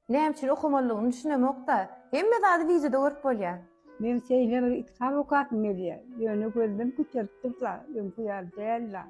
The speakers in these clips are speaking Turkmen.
Näme üçin okamalydygyny düşünemokda. Hemme zady wideoda görüp bolýa. Men şeýle bir iki sany okasym gelýä, ýöne gözüm köçelip dursa, öňki ýaly dälda.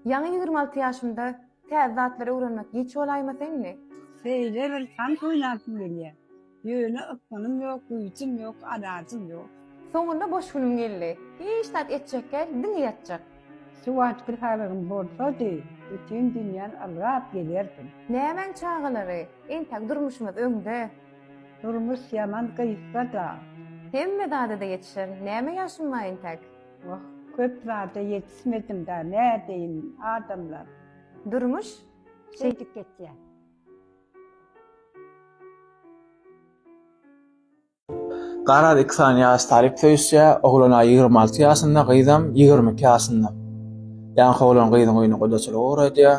Ýaňy ýigrimi alty ýaşymda täze zatlary öwrenmek giç bolaýmasa indi. Şeýle bir tans oýnasym gelýä, ýöne ykbanym ýok, güýjüm ýok, alajym ýok. Soňunda boş günüm geldi. Hiç zat etjek däl, diňe ýatjak. Şu wagt bir salygym bolsady, bütin dünýäni ylgap gezerdim. Nämäň çagalary, entäk durmuşymyz öňde. Durmuş ýaman gysga-da. Hemme zada-da ýetişer, näme ýaşym bar entäk. Oh, köp zada ýetişmedim-dä, nädeýin, adamlar. Durmuş şeýdip geçýär. Garaz iki sany ýaş talyp söýüşýär, oglana ýigrimi alty ýaşynda, gyzam ýigrimi iki ýaşynda. Ýaňky oglan gyzyň öýüne godaçylyga ugradýar.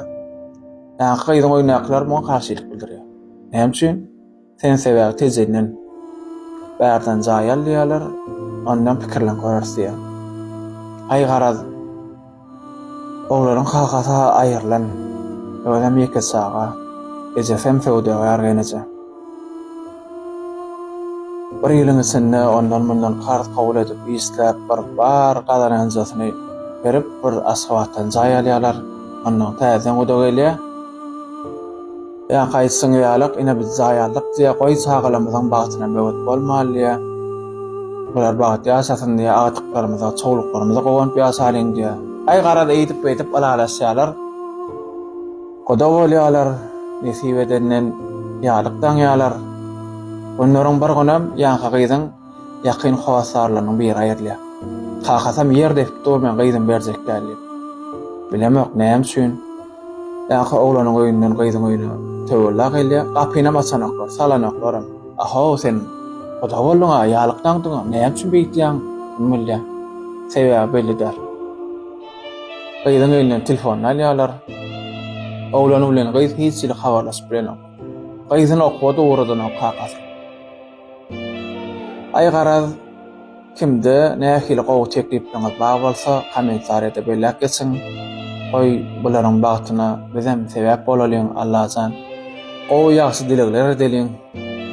Ýaňky gyzyň öýündekiler muňa garşylyk bildirýär. Näme üçin? Sen sebäbi tejenden bärden jaý al diýýärler, ondan pikirlen göreris diýýär. Aý garaz, Olaryň kakasy aýrylan, özem ýeke çaga, ejesem söwdagär gelneje. Bir ýylyň içinde ondan-mundan karz kabul edip, işläp, bir bar gazananjasyny berip, bir Aşgabatdan jaý alýarlar. Ondan täzeden guda gelýär. Ýa gaýtsyn öýalak ine biz zaýaldyk diýe goý çagalamyzyň bagtyna böwet bolmaly diýe olar bagt ýaşasyn diýe agtyklarymyza çowluklarymyza gowanyp ýaşalyň diýe aý garaz eýdip beýdip ylalaşýalar goda bolýalar nesip edenden ýalyk daňýalar günleriň bir günem ýaňky gyzyň ýakyn hossarlarynyň biri aýrylýa kakasam ýer depip durmyň gyzym berjek däl diýip bilemok näme üçin Ýa-ha oglanyň öýünden gyzyň öýüne töwella gelýär, gapynam açanoklar, salanoklaryn. A-how sen guda bolduň-a, ýalykdaňdyň-a, näme üçin beýtýäň? Ümmelýär. Sebäbi belli däl. Gyzyň elinden telefonyny alýarlar. Oglan bilen gyz hiç hili habarlaşyp bilenok. Gyzyny okuwa da ugradanok kakasy. Aý garaz kimde nähili gowy teklipleriňiz bar bolsa komentariýada belläp geçiň goý bularyň bagtyna bizem sebäp bolalyň Allajan gowy ýagşy dilegler edeliň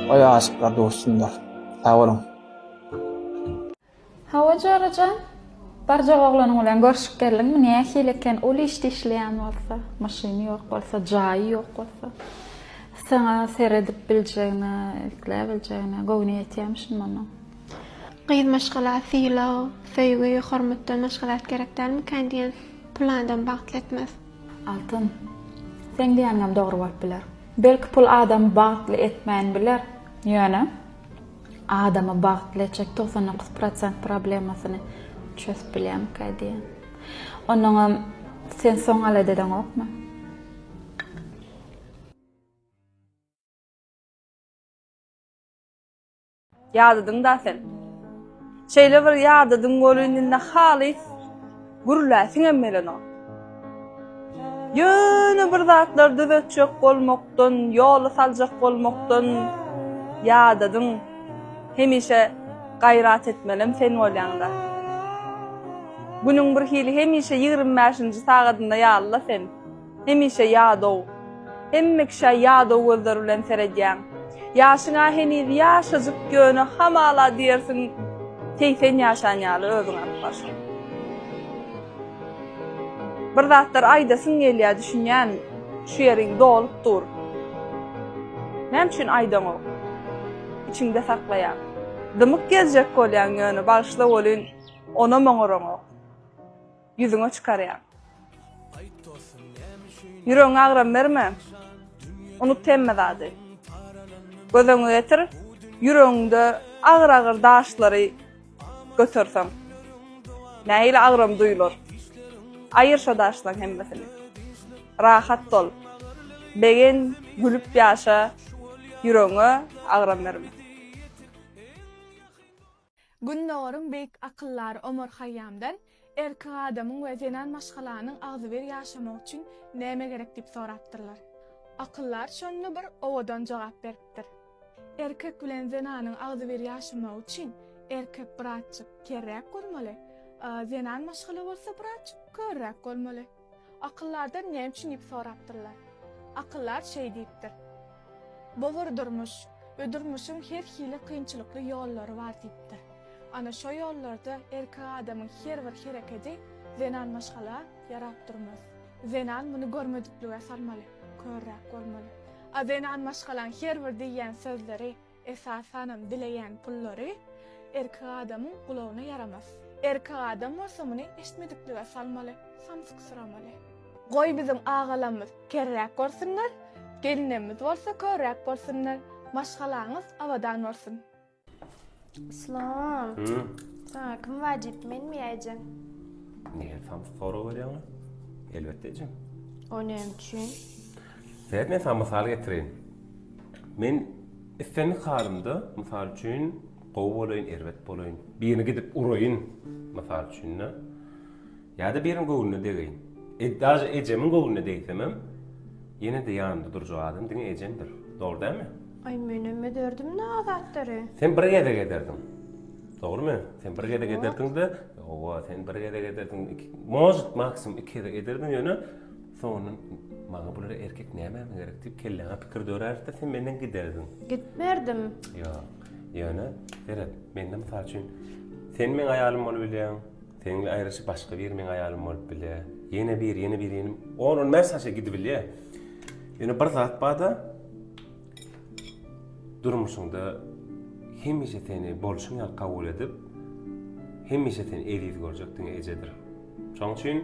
goý aşyklar duşsunlar sag boluň. Hawa Jorajan, barjak oglanyň bilen görşüp geldiňmi, nähili eken, ol işde işleýän bolsa, maşyny ýok bolsa, jaýy ýok bolsa, saňa seredip biljegine, isläp biljegine göwni ýetýämişin munuň. Gyz maşgala, sylag, söýgi, hormatdan başga zat gerek dälmikän diýen pul adam bagtly etmez. Altyn, seň diýeniňem dogry bolup biler. Belki pul adamy bagtly etmän biler, ýöne. Adamy bagtly etjek togsan dokuz prosent problemasyny çözüp bilýärmikä diýýän. Onuňam sen soň alada edeňokmy? Ýadadyň-da sen. Şeýle bir ýadadyň welin indi halys. Gürläsiňem Melina. Ýöne bir zatlar düzetjek bolmakdan, ýola saljak bolmakdan ýadadyň. Hemişe gaýrat etmelem sen bolýaň-da. Günüň birhili hemişe ýigrimi bäşinji sagadynda ýaly-la sen. Hemişe ýadow. Hemme kişä ýadow gözler bilen seredýäň. Ýaşyň-a heniz ýaşajyk, ýöne hamala diýersiň, segsen ýaşan ýaly özüňi alyp barşyň. Bir zatlar aýdasyň gelýär, düşünýän, şu ýeriň dolup dur. Näme üçin aýdaňok? Içiňde saklaýaň. Dymyp gezjek bolýaň, ýöne bagyşla welin, onam oňaraňok. ýüzüňe çykarýar. Ýüregiňe agram berme, unut hemme zady. Göz öňe getir, ýüregiňde agyr-agyr daşlary göterseň, nähili agram duýular. Aýyr şo daşlaň hemmesini. Rahat bol, begen, gülüp ýaşa, ýüregiňe agram berme. Gündogaryň beýik akyldary Omar Haýýamdan Erkek adamyň we zenan maşgalanyň agzybir ýaşamagy üçin näme gerek diýip sorapdyrlar. Akyldar şonda bir owadan jogap beripdir. Erkek bilen zenanyň agzybir ýaşamagy üçin erkek birazjyk kerräk bolmaly, zenan maşgala bolsa birazjyk körräk bolmaly. Akyllardan näme üçin diýip sorapdyrlar. Akyllar şeý diýipdir. Bozar durmuş we durmuşyň her hili kynçylykly ýollary bar diýipdir. Ana şo ýollarda erkek adamyň her bir herekedi zenan maşgala ýarap durmaz. Zenan muny görmediklige salmaly, körräk bolmaly. A zenan maşgalaň her bir diýýän sözleri, Esasanam dileýän pullary erkek adamyň gulagyna ýaramaz. Erkek adam bolsa muny eşitmediklige salmaly, samsyksyramaly. Goý biziň agalamyz kerräk bolsunlar, gelnemiz bolsa körräk bolsunlar. Maşgalaňyz abadan bolsun. Slom. Saňa kim wajyp, menmi ýa ejeň? Niye samsyk sorag berýäňa? Elbetde ejem. O näme üçin? Sebäbi men saňa mysal getireýin. Men islendik halymda, mysal üçin, gowy bolaýyn, erbet bolaýyn, birini gidip uraýyn, mysal üçin-de, ýa-da biriniň göwnüne degeýin. E, daže ejemiň göwnüne degsemem, ýene-de ýanymda durjak adam diňe ejemdir. Dogry dälmi? Aý, menem ederdim-dä o zatlary. Sen bir gezek ederdiň. Dogrumy? Sen bir gezek ederdiň-de, hawa, sen bir gezek ederdiň, iki, может, maksimum iki gezek ederdiň, ýöne Soňundan maňa bulara erkek näme gerek diýip kelläňe pikir dörärdi, sen menden giderdiň. Gitmerdim. Ýok. Ýöne seret, mende mysal üçin sen meň aýalym bolup bilýäň, seniň aýryşy başga bir meň aýalym bolup bilýär. Ýene bir, ýene bir, ýene 10-15 saça gidip bilýär. Ýöne bir zat barda durmuşyňda hemişe seni bolşuň ýaly kabul edip, hemişe seni eziz görjek diňe ejedir. Şoň üçin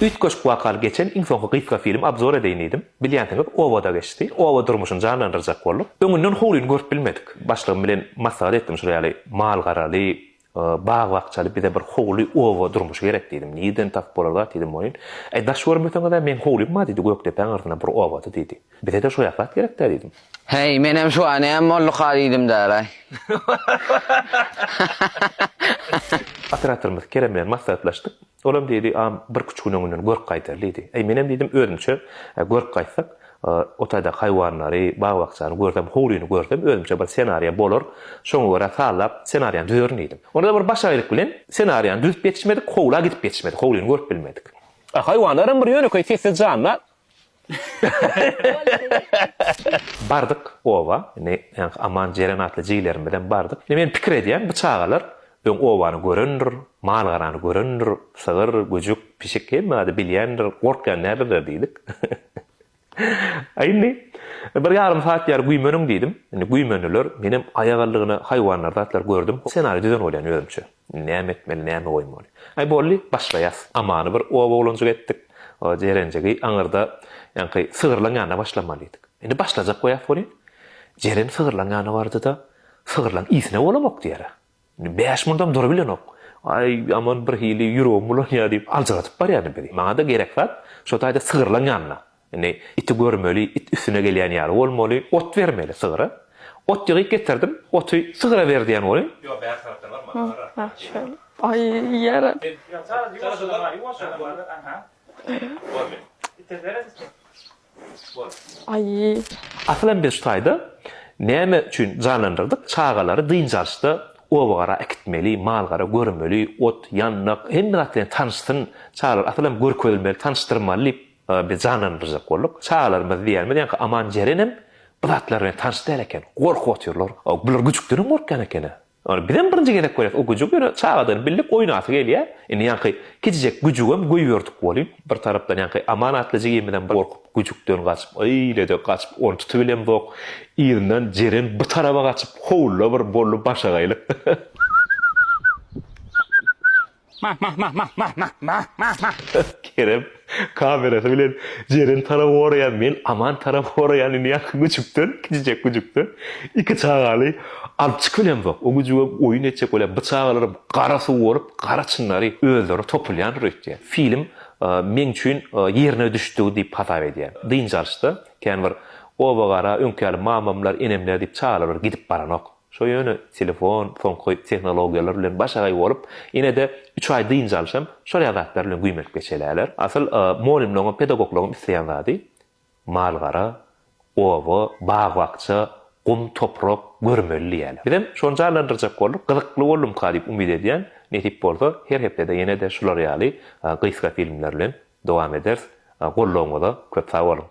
Üýtgeşik wakaly geçen iň soňky gysga film obzor edeýin diýdim. Bilýänsiňiz, obada geçdi. Oba durmuşyny janlandyrjak bolduk. Öňünden howlyny görüp bilmedik. Başlygym bilen maslahat etdim şular ýaly mal-garaly, bag-bakjaly bize bir howly, oba durmuşy gerek diýdim. Nireden tapyp bolar zat diýdim welin. Aý, daş görmeseňiz-ä meň howlym bar diýdi, Gökdepäň yzynda bir obada diýdi. Bize-de şo ýaly zat gerek-dä diýdim. Heý, menem şu-a näme bolduka diýdim dälaý. Operatorymyz Kerem bilen maslahatlaşdyk. Olam diýdi, Agam, birküç gün öňünden görüp gaýdaly diýdi. Eý, menem diýdim, özümçe, Hä, görüp gaýtsak, o taýdaky haýwanlary, bag-bakjany görsem, howlyny görsem, özümçe bir ssenariýa bolar, şoňa görä sallap, ssenariýany düzerin diýdim. Onda-da bir baş aýrylyk bilen ssenariýany düzüp ýetişmedik, howla gidip ýetişmedik, howlyny görüp bilmedik. Haýwanlaram bir ýönekeý sessiz janlar. Bardyk oba, indi ýaňky Aman, Jeren atly jigilerimiz bilen bardyk. Indi men pikir edýän, bu çagalar öň obany görendir, mal-garany görendir, sygyr, güjük, pişik hemme zady bilýändir, gorkýan däldirler diýdik. A indi bir ýarym saat ýaly güýmeniň diýdim. Indi güýmendiler. Menem aýagaldygyna haýwanlar, zatlar gördüm. Ssenariý düzen bolýan özümçe. Näme etmeli, näme goýmaly? Aý, boldy, başlaýas. Amany bir oba oglanjyk etdik. Jerenjigi aňyrda, ýaňky sygyrlaň ýanyna başlamalydyk. Indi başlajak goýas welin, Jeren sygyrlaň ýanyna bardy-da, Sygyrlaň isine bolamok diýer-ä. Indi bäş mundam durubilenok. Aý, Aman birhili ýüregim bulanýar diýip, aljyradyp barýardy bizi. Maňa-da gerek zat şo taýda sygyrlaň ýanyna. Indi iti görmeli, it üstüne gelýän ýaly bolmaly, ot bermeli sygyra. Ot ýygyp getirdim, oty sygyra ber diýen welin. Ýok, bäri tarapdan barma, ara atdan git. Şeýle. Aý, ýarad. Ýok, çalaja ýuwaşlaň, ýuwaşlaň barada, aha. Boldy. Ite ber edip. Boldy. Aý. Asylam biz şu taýda näme üçin janlandyrdyk, çagalary dynç alyşda oba-gara äkitmeli, mal-gara görmeli, ot, ýandak, hemme zat bilen tanyşsyn, çagalar asylam görkezilmeli, tanyşdyrmaly diýip. Biz janlandyryjak bolduk. Çagalarymyz diýýänimiz ýaňky Aman Jeren hem bu zatlar bilen tanyş däl eken. Gorkup otyrlar. Bular güjükdenem gorkýan eken-ä. Ony bizem birinji gezek görýäs o güjügi. Ýöne çagadan bildik, oýnasy gelýär. Indi ýaňky kiçijek güjügem goýberdik welin, bir tarapdan ýaňky Aman atly jigimizem gorkup güjükden gaçyp, eýle-de gaçyp, ony tutup bilemzok. Yzyndan Jeren bu taraba gaçyp, howluda bir boldy başagaýlyk. Mah mah mah mah mah mah mah mah mah. Kerem kamerasy bilen Jeren tarap goraýan men Aman tarap goraýan indi ýaňky güjükden kiçijek güjükden iki çagaly alyp çykylemzok o güjügem oýun etjek bolýar bu çagalaram gara suw bolup gara çynlary özleri topulýandyr öýtýän film meň üçin ýerine düşdi diýip hasap edýän dynç alyşda kän bir oba gara öňki ýaly mamamlar enemler diýip çagalar bir gidip baranok. Şo ýöne telefon, soňky tehnologiýalar bilen başagaý bolup, ine-de üç aý dynç alşam, şol ýa zatlar bilen güýmenip geçeläler. Asyl molymlaryňam, pedagoglaryňam isleýän zady, mal-gara, oba, bag-bakja, gum, toprak, görmeli diýýäler. Bizem şony janlandyrjak bolduk, gyzykly boldumyka diýip umyt edýän. Nesip bolsa, her hepdede ýene-de şular ýaly gysga filmler bilen dowam ederis. Goldawyňyza köp sag boluň!